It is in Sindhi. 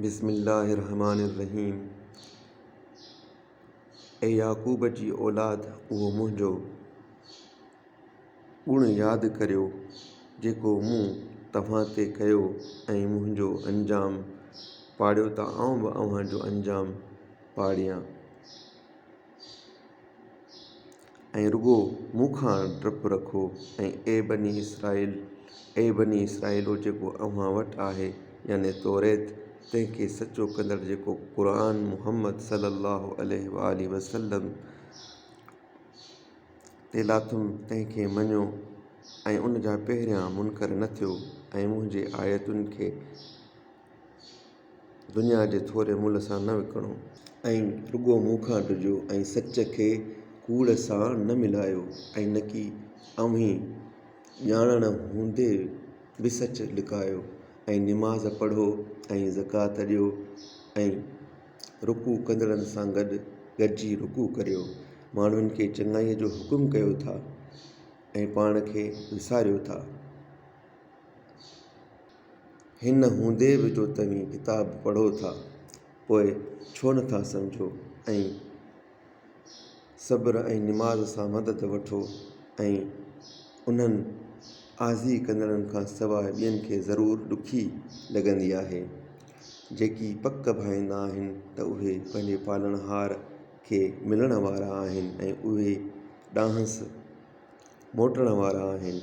بسم الله الرحمٰن الرحيم اي يعقوب جي اولاد اهو منهنجو ڳڻ ياد ڪريو جيڪو مون توهان تي ڪيو ۽ منهنجو انجام پاڙيو ته آئون به اوهان جو انجام پاڙيان. ۽ رڳو مون کان ڊپ رکو ۽ اي بني اسرائيل، اي بني اسرائيلو جيڪو اوهان وٽ آهي، يعني توريت، تنهن کي سچو ڪندڙ جيڪو قرآن محمد صلّي اللّٰه عليه واٰله وسلّم تي لاٿم تنهن کي مڃيو ۽ ان جا پهريان منڪر نه ٿيو ۽ منهنجي آيتن کي دنيا جي ٿوري ملهه سان نه وڪڻو. ۽ رڳو مون کان ڊڄو ۽ سچ کي ڪوڙ سان نه ملايو ۽ نڪي اوهين ڄاڻڻ هوندي به سچ لڪايو ۽ نماز پڙهو ۽ زڪوات ڏيو ۽ رڪوع ڪندڙن سان گڏ گڏجي رڪوع ڪريو ماڻهن کي چڱائيء جو حڪم ڪيو ٿا ۽ پاڻ کي وساريو ٿا. هن هوندي به جو توهين ڪتاب پڙهو ٿا پوء ڇو نه ٿا سمجهو ۽ صبر ۽ نماز سان مدد وٺو ۽ انهن آزي ڪندڙن کان سواء ٻين کي ضرور ڏکي لڳندي آهي. جيڪي پڪ ڀائيندا آهن ته اهي پنهنجي پالڻهار کي ملڻ وارا آهن ۽ اهي ڏانهنس موٽڻ وارا آهن.